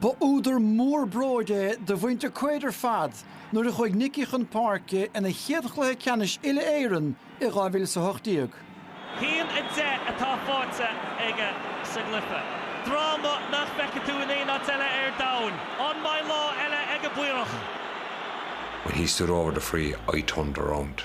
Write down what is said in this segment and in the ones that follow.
Ba údar mór bróid é do mhuintir Quaid ar fad nuair a chuaigh Nicky chun páirce ina chéad chluiche ceannais uile-Éireann i 2018. Haon a deich atá faighte aige sa gcluiche, dráma nach bhfeicfidh tú in aon áit eile ar domhain. An-mhaith lá eile ag an bPaorach. When he stood over the free I turned around.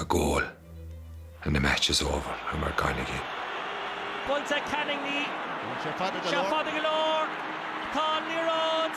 a goal and the match is over and we're gone again. Poinnte ag Canning, ní sé fada go leor, tá an liathróid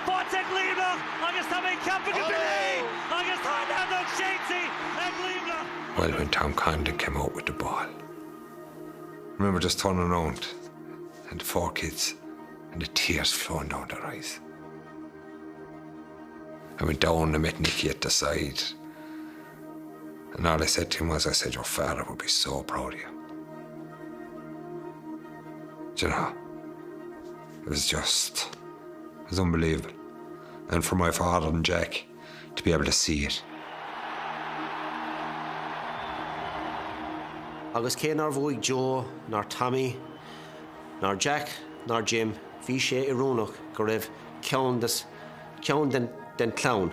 faighte ag Luimneach agus tá mé ceaptha go mbeidh é agus tá Neanderthal séidtí ag Luimneach! Well, when Tom Condon came out with the ball, I remember just turning around and the four kids and the tears flowing down their eyes. I went down and met Nicky at the side. And all I said to him was, I said, your father would be so proud of you. Do you know? It was just, it was unbelievable. And for my father and Jack to be able to see it. Agus cé nár bhuaigh Joe, nár Tommy, nár Jack, nár Jim, bhí sé irónach go raibh ceann den clann